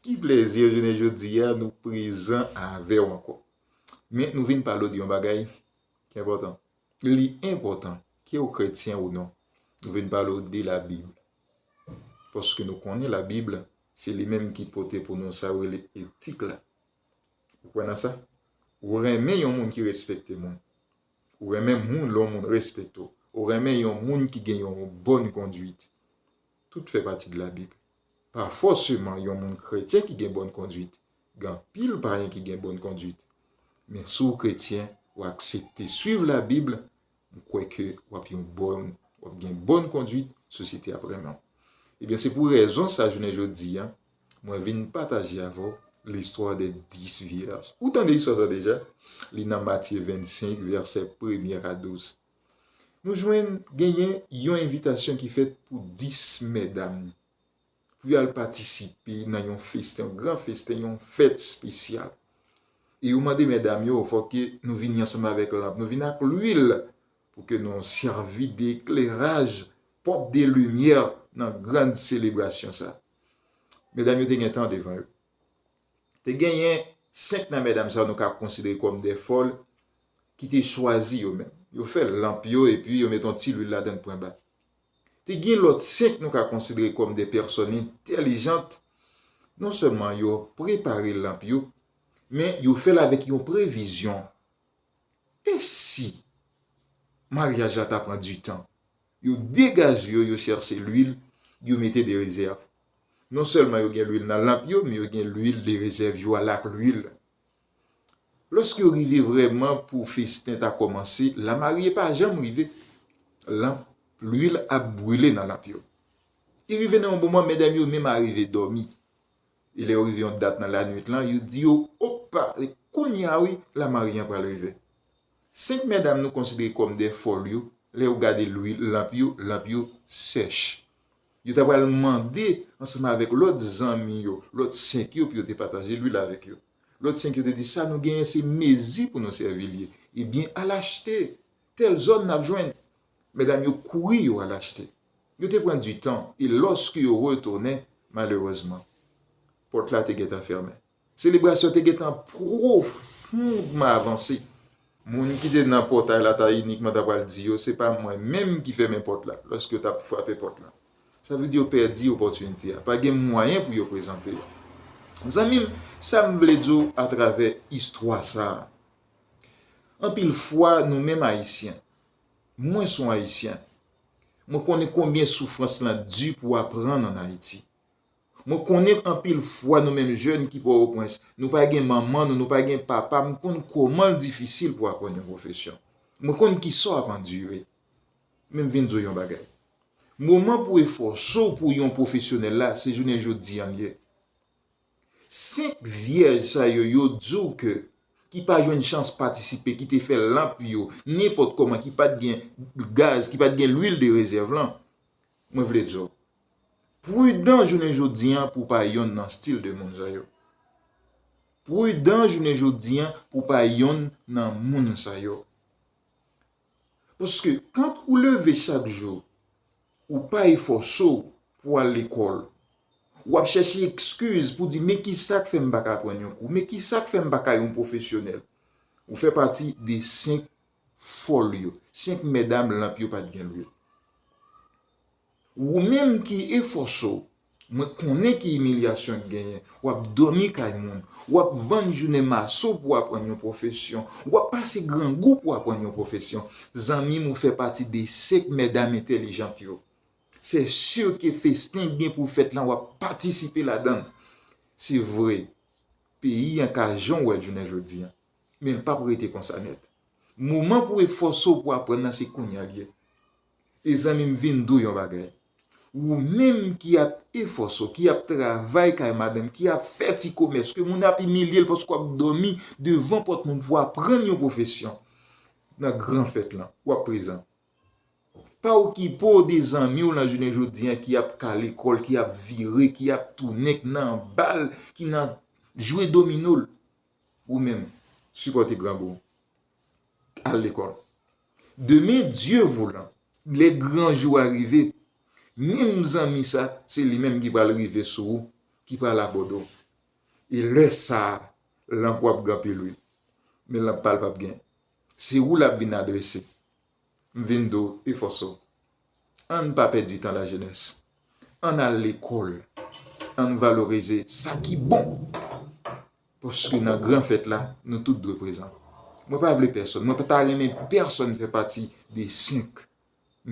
Ki plezi jounen jodi a nou prezan avè w ankò. Men nou vin pale w de yon bagay ki enpòtan. Li enpòtan ke w kretyen ou non. Nou vin pale w de Labib. Paske nou konnen Labib se li menm ki pote pou nou sa yo rele etik la. Ou kwè nan sa? Ou renmen yon moun ki respekte moun. Ou renmen moun lè yon moun respekte w. Ou renmen yon moun ki gen yon bòn konduit. tout fè pati de labib. Pa fòseman yon moun kretyen ki gen bòn konduit, gen anpil payen ki gen bòn konduit. Men si w kretyen, w aksepte swiv labib, m kwè ke w ap yon bòn, w ap gen bòn konduit, sosyete ap renmen w. Ebyen se pou rezon sa jounen jodi a, mwen vin pataje avè w listwa de 10 vyèj. Ou tande istwa sa deja? Li nan Matye 25 vèsè premye a 12. Nou jwenn genyen yon envitasyon ki fèt pou 10 mèdam pou y al patisipe nan yon festen, yon gran festen, yon fèt spesyal. E yo mande mèdam yo fò ke nou vini ansanm avèk lanp, nou vini ak lwil pou ke nou sèvi de ekleraj, pòt de limyè nan gran selebrasyon sa. Mèdam yo te gen tan devan yo. Te genyen 5 nan mèdam sa yo nou ka konsidere kòm de fòl, ki te chwazi yo menm. Yo fè lanp yo epi yo met yon ti lwil ladan pwen ba. Te gen lòt senk nou ka konsidere kòm de pèsòn entèlijant, non sèlman yo prepare lanp yo, men yo fè l avèk yon previzyon, E si maryaj la ta pran ditan? Yo degaze yo, yo chèche lwil, yo mete de rezèv. Non sèlman yo gen lwil nan lanp yo, men yo gen lwil de rezèv yo a la ak lwil. Lòske yo rive vrèman pou festen ta kòmanse, lamarye pa janm rive. Lanp luil ap brule nan lanp yo. Li rive nan yon moman medam yo menm arive dòmi. E lè yo rive yon dat nan lanuit lan, yo di yo, Opa! Se kounye a wi lamarye an pral rive. Senk medam nou konsidere kòm de fòl yo, lè yo gade luil lanp yo, lanp yo sèch. Yo ta pral mande ansanm avèk lòt zanmi yo, lòt sen yo pou yo te pataje luil avèk yo. Lòt sen yo te di, Sa nou genyen se mezi pou nou sèvi li. Ebyen, al achte. Tèl zòn n ap jwenn. Medam yo kouri yo al achte. Yo te pran ditan e lòske yo retounen, malerezman, pòt la te gentan fèmen. Selebrasyon te gentan pwofondman avanse. Moun ki te nan pòtay la ta inikman ta pral di yo, Se pa mwen menm ki fèmen pòt la, lòske yo t ap frape pòt la. Sa vle di yo pèdi opòtinite a. Pa gen mwayen pou yo prezante yo. Zanmi m, sa m vle di w atravè istwa sa a, anpil fwa nou menm Ayisyen, mwen s on Ayisyen, mwen konnen konbyen soufrans lan di pou w aprann ann Ayiti. Mwen konnen anpil fwa nou menm jèn ki Pòtoprens, nou pa gen manman nou, nou pa gen papa, m konn kòman l difisil pou aprann yon pwofesyon. Mwen konn ki sa w ap andire. Men m vin di w yon bagay. Moman pou efòse w pou yon pwofesyonèl la, se jounen jodi an l ye. Senk vyèj sa yo, yo di w ke ki pa jwenn chans patisipe, ki te fè lanp yo, nenpòt kòman, ki pa t gen gaz, ki pa t gen lwil de rezèv lan, mwen vle di w, Prudan jounen jodi an pou pa yonn nan stil de moun sa yo. Prudan jounen jodi an pou pa yonn nan moun sa yo. Paske kant ou leve chak jou, ou pa efòse w pou al lekòl. Ou ap chèche ekskiz pou di men ki sa k fè m pa ka pran yon kou, men ki sa k fè m pa ka yon pwofesyonèl. Ou fè pati de 5 fòl yo, 5 mèdam lanp yo pa t gen lwil. Wou menm ki efò so, mwen konnen ki imilyasyon k genyen, wap dòmi kay moun, wap vann jounen maso pou aprann yon pwofesyon, wap pase grangou pou aprann yon pwofesyon, zanmim ou fè pati de sèk mèdam entèlijant yo. Sè sur ke festen k gen pou fèt lan wap patisipe ladann. Se vre, peyi an ka jan w wè l jounen jodi an, men l pap rete konsa nèt. Moman pou efò so pou aprann nan se kounya l ye. E zanmi m vin di w yon bagay, wou menm ki ap efòse w, ki ap travay kay madanm, ki ap fè ti komès, ke moun ap imilye l paske w ap dòmi devan pòt moun pou w aprann yon pwofesyon nan gran fèt lan, w ap prezan. Pa okipe w de zanmi w lan jounen jodi an ki ap kale kò l, ki ap vire, ki ap tounen, ki nan anba l, ki nan jwe domino l. Wou menm, sipòte grangou w. Al lekòl. Demen Dye voulan, lè gran jou a rive, menm zanmi sa, se li menm ki pral rive sou ou, ki pral abòde w. E lè sa a, lanp ou ap gen anpil wi, men lanp pa l p ap gen. Se ou l ap vin adrese. M vin di w, efòse w. Ann pa pèdi tan lajenès. Ann al lekòl. Ann valorize sa ki bon. Paske nan gran fèt la, nou tout dwe prezan. Mwen pa vle pèsòn, mwen pa ta renmen pèsòn fè pati de 5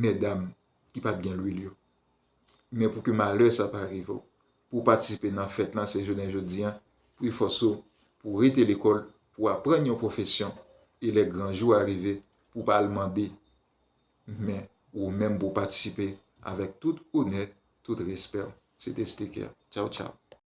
mètdam ki pa t gen lwil yo. Men pou ke malè sa pa rive w, pou w patisipe nan fèt lan se jounen jodi an, pou efòse w, pou w rete lekòl, pou w aprann yon pwofesyon, e lè gran jou a rive, pou w pa al mande, men ou menm pou w patisipe avèk tout onè, tout respè w. Se te Steker. Tchaw tchaw.